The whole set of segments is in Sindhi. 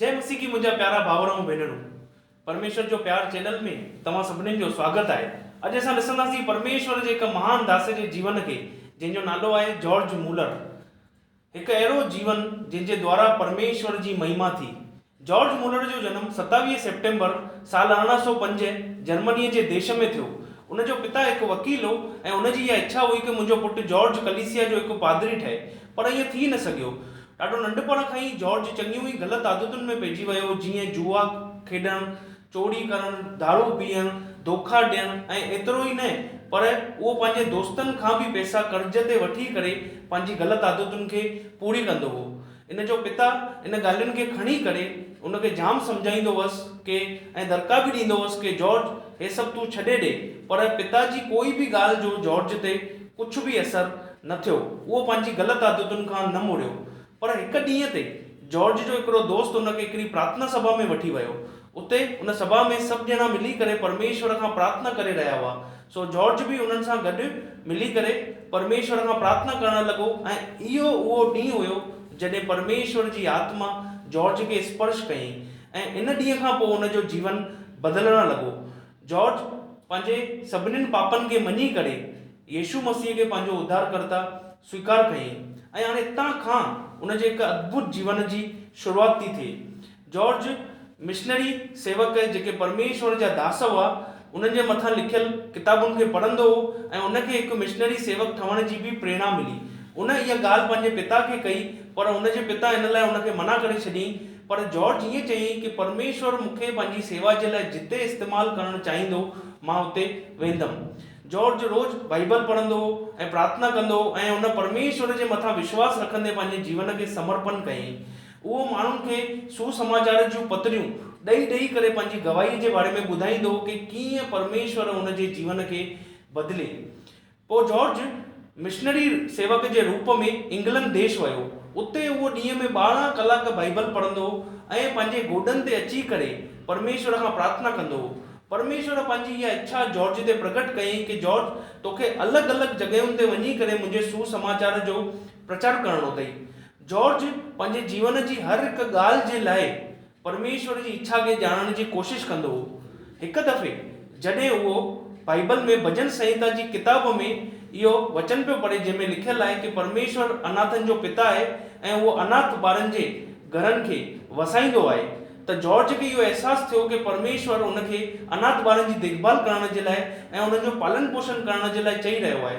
جئي مسيحي منهنجا پيارا ڀائر ۽ ڀينرون پرميشور جو پيار چينل ۾ توهان سڀنين جو سواگت آهي اڄ اسان ڏسنداسين پرميشور جي هڪ مهان داسي جي جيون کي جنهن جو نالو آهي جارج مولر هڪ اهڙو جيون جنهن جي دوارا پرميشور جي مهما ٿي. جارج مولر جو جنم ستاويهه سيپٽمبر سال ارڙهن سؤ پنج جرمنيء جي ديش ۾ ٿيو. ان جو پتا هڪ وڪيل هو ۽ ان جي اها اڇا هئي ڪه منهنجو پٽ جارج ڪليسيا جو هڪ پادري ٺهي پر ائين ٿي نه سگهيو. ڏاڍو ننڍپڻ کان ئي جارج چڱيون ئي غلط عادتن ۾ پئجي ويو جيئن جوا کيڏڻ، چوري ڪرڻ، دارو پيئڻ، ڌوڪا ڏيڻ ۽ ايترو ئي نه پر اهو پنهنجي دوستن کان به پئسا قرض تي وٺي ڪري پنهنجي غلط عادتن کي پوري ڪندو هو. ان جو پتا ان ڳالهين کي کڻي ڪري ان کي جام سمجهائيندو هوس ڪي ۽ درڪا به ڏيندو هوس ڪي جارج هي سڀ تون ڇڏي ڏي پر پتا جي ڪوئي به ڳالهه جو جارج تي ڪجهه به اثر نه ٿيو اهو پنهنجي غلط عادتن کان نه مڙيو پر هڪ ڏينهن تي جارج جو هڪڙو دوست ان کي هڪڙي پرارٿنا سڀا ۾ وٺي ويو. اتي ان سڀا ۾ سڀ ڄڻا ملي ڪري پرميشور کان پرارٿنا ڪري رهيا هئا. سو جارج به انهن سان گڏ ملي ڪري پرميشور کان پرارٿنا ڪرڻ لڳو ۽ اهو اهو ڏينهن هيو جڏهن پرميشور جي آتما جارج کي اسپرش ڪيائين ۽ ان ڏينهن کان پوء ان جو جيون بدلڻ لڳو جارج پنهنجي سڀنين پاپن کي مڃي ڪري يسوع مسيح کي پنهنجو اڌارڪرتا سويڪار ڪيائين ۽ هاڻي اتان کان ان جي هڪ اڌڀت جيون جي شروعات ٿي ٿئي. جارج مشنري سيوڪ جيڪي پرميشور جا داس هئا انهن جي مٿان لکيل ڪتابن کي پڙهندو هو ۽ ان کي هڪ مشنري سيوڪ ٺهڻ جي به پريڻا ملي. ان اها ڳالهه پنهنجي پتا کي ڪئي پر ان جي پتا ان لاء ان کي منع ڪري ڇڏيائين. پر جارج ائين چيائين ڪي پرميشور مون کي پنهنجي سيوا جي لاء جتي استعمال ڪرڻ چاهيندو، مان اتي ويندم. جارج روز بائيبل پڙهندو هو ۽ پرارٿنا ڪندو هو ۽ هن پرميشور جي مٿان وشواس رکندي پنهنجي جيون کي سمرپن ڪيائين. اهو ماڻهن کي سوسماچار جون پتريون ڏئي ڏئي ڪري پنهنجي گواهيء جي باري ۾ ٻڌائيندو هو ڪي ڪيئن پرميشور هن جي جيون کي بدلي پوء جارج مشنري سيوڪ جي روپ ۾ انگلنڊ ديش ويو. اتي اهو ڏينهن ۾ ٻارهن ڪلاڪ بائيبل پڙهندو هو ۽ پنهنجي گوڏن تي اچي ڪري پرميشور کان پرارٿنا ڪندو هو. پرميشور پنهنجي اها اڇا جارج تي پرگهٽ ڪيائين ڪي جارج توکي الڳ الڳ جڳهين تي وڃي ڪري منهنجي سوسماچار جو پرچار ڪرڻو اٿئي. جارج پنهنجي جيون جي هر هڪ ڳالهه جي لاء پرميشور جي اڇا کي ڄاڻڻ جي ڪوشش ڪندو هو. هڪ دفعي جڏهن اهو بائيبل ۾ ڀڄن سنهتا جي ڪتاب ۾ اهو وچن پيو پڙهي جنهن ۾ لکيل آهي ڪي پرميشور اناٿن جو پتا آهي ۽ اهو اناٿ ٻارن جي گهرن کي وسائيندو آهي ته جارج کي اهو احساس ٿيو ڪي پرميشور هن کي اناٿ ٻارن جي ديکڀال ڪرڻ جي لاء ۽ انهن جو پالن پوشن ڪرڻ جي لاء چئي رهيو آهي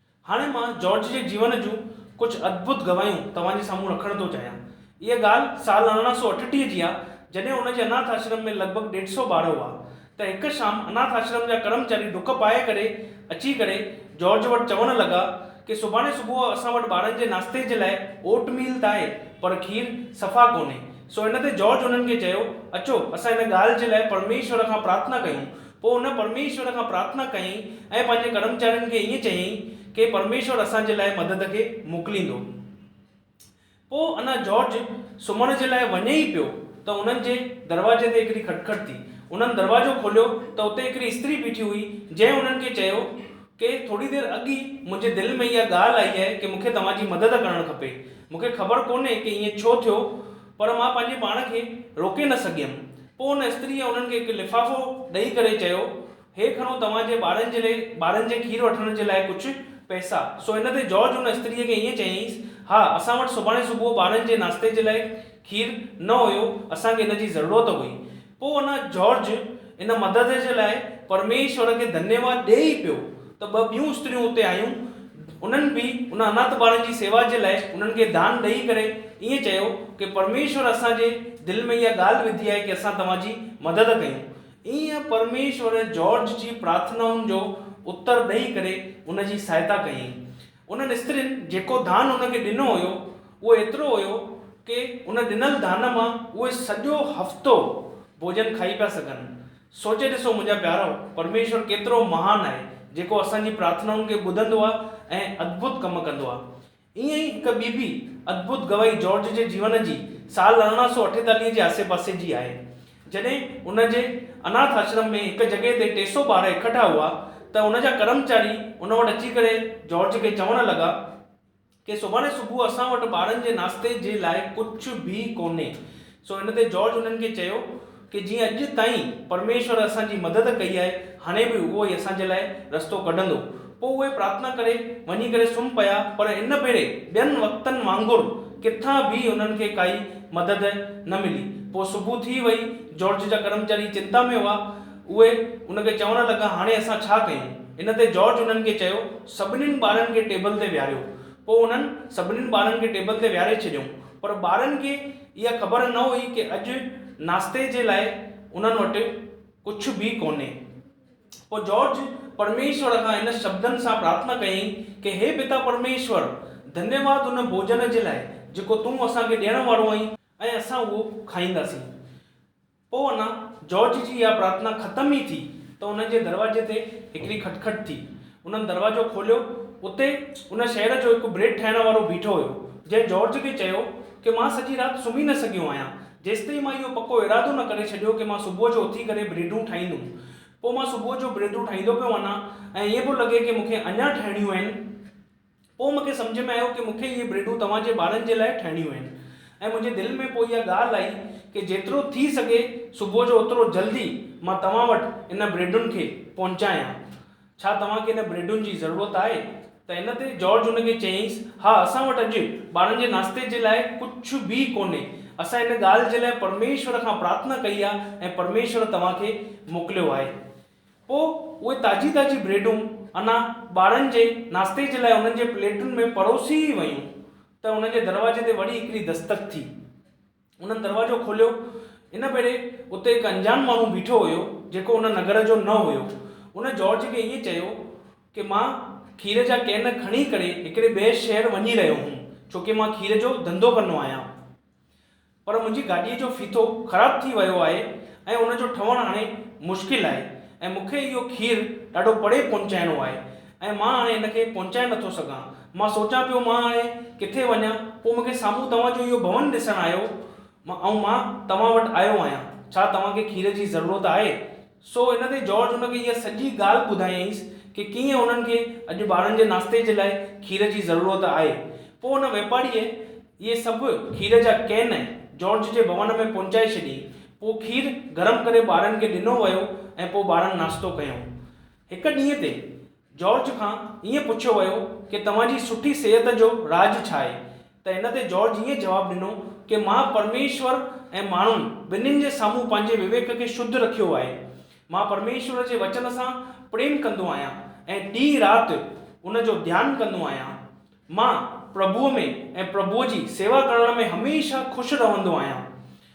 هاڻي مان جارج جي جيون جون ڪجهه ادڀت گواهيون توهان جي سامهون رکڻ ٿو چاهيان. اها ڳالهه سال ارڙهن سؤ اٺٽيهه جي آهي، جڏهن هن جي اناٿ آشرم ۾ لڳ ڀڳ ڏيڍ سؤ ٻار هئا، ته هڪ شام اناٿ آشرم جا ڪرمچاري ڊڪ پائي ڪري اچي ڪري جارج وٽ چوڻ لڳا ڪي سڀاڻي صبح اسان وٽ ٻارن جي ناشتي جي لاء اوٽ ميل ته آهي، پر کير صفا ڪونهي. سو ان تي جارج انهن کي چيو، اچو، اسان ان ڳالهه جي لاء پرميشور کان پرارٿنا ڪيون. پوء هن پرميشور کان پرارٿنا ڪيائين ۽ پنهنجي ڪرمچارين کي ائين چيائين ڪي پرميشور اسان جي لاء مدد کي موڪليندو. پوء انا جارج سمهڻ جي لاء وڃي ئي پيو ته انهن جي دروازي تي هڪڙي کٽکٽ ٿي. انهن دروازو کوليو ته اتي هڪڙي استري بيٺي هئي جنهن انهن کي چيو ڪي ٿوري دير اڳ ئي منهنجي دل ۾ اها ڳالهه آئي آهي ڪي مون کي توهان جي مدد ڪرڻ کپي. مون کي خبر ڪونهي ڪي ائين ڇو ٿيو پر مان پنهنجي پاڻ کي روڪي نه سگهيم. پوء ان استريء انهن کي هڪ لفافو ڏئي ڪري چيو، هي کڻو توهان جي ٻارن جي لئي ٻارن جي کير وٺڻ جي لاء ڪجهه پئسا. سو ان تي جارج ان استريء کي ائين چيائينس، ها، اسان وٽ سڀاڻي صبح ٻارن جي ناشتي جي لاء کير نه هيو، اسان کي ان جي ضرورت هئي. پوء ان جارج ان مدد جي لاء پرميشور کي ڌنيواد ڏئي ئي پيو ته ٻه ٻيون استريون اتي آيون، انهن به ان اناٿ ٻارن جي سيوا جي لاء انهن کي دان ڏئي ڪري ائين چيو ڪي پرميشور اسان جي دل ۾ اها ڳالهه وڌي آهي ڪي اسان توهان جي مدد ڪيون. ائين پرميشور جارج جي پرارٿنائن جو اتر ڏئي ڪري ان جي سهائتا ڪيائين. انهن استرين جيڪو ڌان هن کي ڏنو هيو، اهو ايترو هيو ڪي ان ڏنل ڌان مان اهي سڄو هفتو ڀوڄن کائي پيا سگهن. سوچي ڏسو منهنجا پيارؤ، پرميشور ڪيترو مهان آهي، جيڪو اسان جي پرارٿنائن کي ٻڌندو آهي ۽ ادڀت ڪم ڪندو آهي. ائين ئي هڪ ٻي به ادڀت گواهي جارج جي جيون جي سال ارڙهن سؤ اٺيتاليهه جي آسي پاسي جي آهي، جڏهن ان جي اناٿ آشرم ۾ هڪ جڳهه تي ٽي سؤ ٻار اڪٺا هئا ته ان جا ڪرمچاري ان وٽ اچي ڪري جارج کي چوڻ لڳا ڪي سڀاڻي صبح اسان وٽ ٻارن جي ناشتي جي لاء ڪجهه به ڪونهي سو ان تي جارج انهن کي چيو ڪي جيئن اڄ تائين پرميشور اسان جي مدد ڪئي آهي هاڻي به اهو ئي اسان جي لاء رستو ڪڍندو پوء اهي پرارٿنا ڪري وڃي ڪري سمهه پيا پر ان ڀيري ٻين وقتن وانگر ڪٿان به هنن کي ڪائي مدد نه ملي. پوء صبح ٿي وئي، جارج جا ڪرمچاري چنتا ۾ هئا. اهي ان کي چوڻ لڳا، هاڻي اسان ڇا ڪيون؟ ان تي جارج انهن کي چيو، سڀنين ٻارن کي ٽيبل تي ويهاريو. پوء انهن سڀنين ٻارن کي ٽيبل تي ويهاري ڇڏيائون. پر ٻارن کي اها خبر نه هئي ڪي اڄ ناشتي جي لاء انهن وٽ ڪجهه به ڪونهي. پوء جارج پرميشور کان هن شبدن سان پرارٿنا ڪيائين ڪي هي پتا پرميشور، ڌنيواد ان ڀوڄن جي لاء جيڪو تون اسان کي ڏيڻ وارو آهين ۽ اسان اهو کائينداسين. پوء اڃا جارج جي اها پرارٿنا ختم ئي ٿي ته انهن جي دروازي تي هڪڙي کٽکٽ ٿي. انهن دروازو کوليو. اتي ان شهر جو هڪ بريڊ ٺاهڻ وارو بيٺو هيو، جنهن جارج کي چيو ڪي مان سڄي رات سمهي نه سگهيو آهيان، جيستائين مان اهو پڪو ارادو نه ڪري ڇڏيو ڪي مان صبح جو اٿي ڪري بريڊون ٺاهيندم پوء مان صبح جو بريڊون ٺاهيندو پيو وڃان ۽ ائين پيو لڳي ڪي مونکي اڃان ٺاهڻيون آهن پوء مونکي سمجهه ۾ آيو ڪي مونکي اهي بريڊون توهان جي ٻارن جي لاء ٺاهڻيون آهن ۽ منهنجي دل ۾ پوء اها ڳالهه آئي ڪي جيترو ٿي سگهي صبح جو اوترو جلدي مان توهان وٽ انهن بريڊن کي پهچايان ڇا توهان کي انهن بريڊن جي ضرورت آهي؟ ته ان تي جارج هن کي چيائينس، ها، اسان وٽ اڄ ٻارن جي ناشتي جي لاء ڪجهه به ڪونهي. اسان ان ڳالهه جي لاء پرميشور کان پرارٿنا ڪئي آهي ۽ پرميشور توهان کي موڪليو آهي. پوء اهي تازي تازي بريڊون انا ٻارن جي ناشتي جي لاء انهن جي پليٽن ۾ پروسي ئي ويون ته انهن جي دروازي تي وري هڪڙي دستڪ ٿي. انهن دروازو کوليو. ان ڀيري اتي هڪ انجان ماڻهو بيٺو هيو، جيڪو ان نگر جو نه هيو. ان جارج کي ائين چيو ڪي مان کير جا ڪين کڻي ڪري هڪڙي ٻئي شهر وڃي رهيو هوم، ڇوڪي مان کير جو ڌنڌو ڪندو آهيان. پر منهنجي گاڏيء جو ڦيٿو خراب ٿي ويو آهي ۽ ان جو ٺهڻ هاڻي مشڪل آهي ۽ مون کي اهو کير ڏاڍو پري پهچائڻو آهي ۽ ۽ مان هاڻي ان کي پهچائي نه ٿو سگهان. مان سوچان پيو مان هاڻي ڪٿي وڃان؟ پوء مون کي سامهون توهان جو اهو ڀون ڏسڻ آيو ۽ مان توهان وٽ آيو آهيان. ڇا توهان کي کير جي ضرورت آهي؟ سو ان تي جارج هن کي اها سڄي ڳالهه ٻڌايائينس ڪي ڪيئن هنن کي اڄ ٻارن جي ناشتي جي لاء کير جي ضرورت آهي. پوء ان واپاريء اهي سڀ کير جا ڪين جارج جي ڀون ۾ پهچائي ڇڏيائين. پوء کير گرم ڪري ٻارن کي ڏنو ويو ۽ پوء ٻارن ناشتو ڪيائون. هڪ ڏينهن تي جارج کان ائين پڇيو ويو ڪي توهان جي سٺي صحت جو راز ڇا آهي ته ان تي جارج ائين جواب ڏنو ڪي مان پرميشور ۽ ماڻهن ٻنهين جي سامهون پنهنجي وويڪ کي شڌ رکيو آهي مان پرميشور جي وچن سان پريم ڪندو آهيان ۽ ڏينهن رات ان جو ڌيان ڪندو آهيان مان پرڀوء ۾ ۽ پرڀوء جي سيوا ڪرڻ ۾ هميشه خوش رهندو آهيان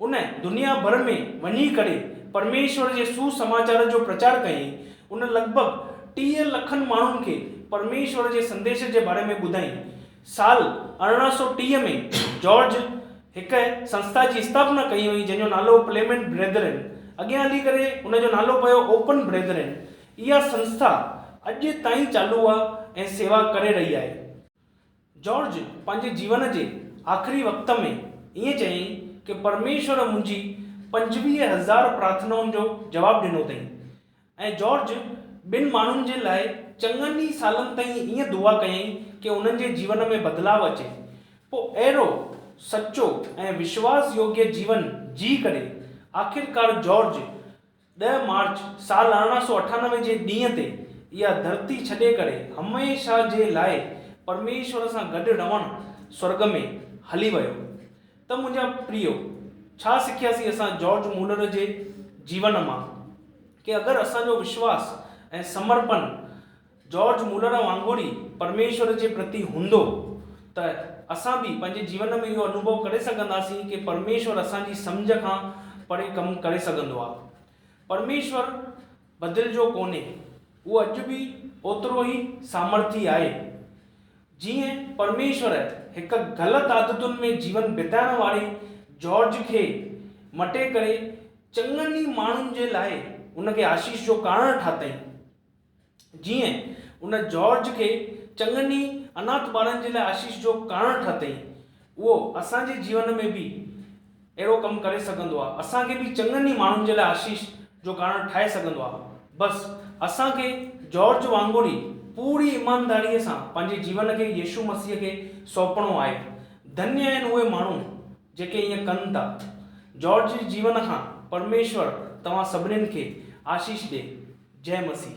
ان دنيا ڀر ۾ وڃي ڪري پرميشور جي سوسماچار جو پرچار ڪيائين. ان لڳ ڀڳ ٽيهه لکن ماڻهن کي پرميشور جي سنديش جي باري ۾ ٻڌائين. سال ارڙهن سؤ ٽيهه ۾ جارج هڪ سنسٿا جي استاپنا ڪئي هئي جنهن جو نالو پليمنٽ بريدرين اڳيان هلي ڪري ان جو نالو پيو اوپن بريدرين. اها سنسٿا اڄ تائين چالو آهي ۽ سيوا ڪري رهي آهي. جارج پنهنجي جيون جي آخري وقت ۾ ائين چيائين ڪي پرميشور منهنجي پنجويهه هزار پرارٿنائن جو جواب ڏنو اٿئي ۽ جارج ٻن ماڻهن جي لاء چڱن ئي سالن تائين ائين دعا ڪيائين ڪي انهن جي جيون ۾ بدلاء اچي پو اهڙو سچو ۽ وشواس يوگيه جيون جيئي ڪري آخرڪار جارج ڏهه مارچ سال ارڙهن سؤ اٺانوي جي ڏينهن تي اها ڌرتي ڇڏي ڪري هميشه جي لاء پرميشور سان گڏ رهڻ سورڳ ۾ هلي ويو. ته منهنجا پريو، ڇا سکياسين اسان جارج مولر جي جيون مان؟ ڪي اگر اسان جو وشواس ۽ سمرپن جارج مولر وانگر ئي پرميشور جي پرتي هوندو ته اسان به پنهنجي جيون ۾ اهو انوڀو ڪري سگهنداسين ڪي پرميشور اسان جي سمجهه کان پري ڪم ڪري سگهندو آهي. پرميشور بدلجو ڪونهي، اهو اڄ به اوترو ئي سامرٿي آهي. جيئن پرميشور هڪ غلط عادتن ۾ جيون بتائڻ واري جارج کي مٽي ڪري چڱن ئي ماڻهن جي لاء ان کي آشيش جو ڪارڻ ٺاتائين، جيئن ان جارج کي چڱن ئي انات ٻارن جي لاء آشيش جو ڪارڻ ٺاهتئين، اهو اسان جي جيون ۾ به اهڙو ڪم ڪري سگهندو آهي. اسان کي به چڱن ئي ماڻهن جي لاء آشيش جو ڪارڻ ٺاهي سگهندو آهي. بس اسان کي جارج وانگر ئي پوري ايمانداريء سان پنهنجي جيون کي يسوع مسيح کي سونپڻو آهي. ڌنيء آهن اهي ماڻهو جيڪي ائين ڪن ٿا. جارج جي جيون کان پرميشور توهان سڀني کي آشيش ڏي. جئه مسيح.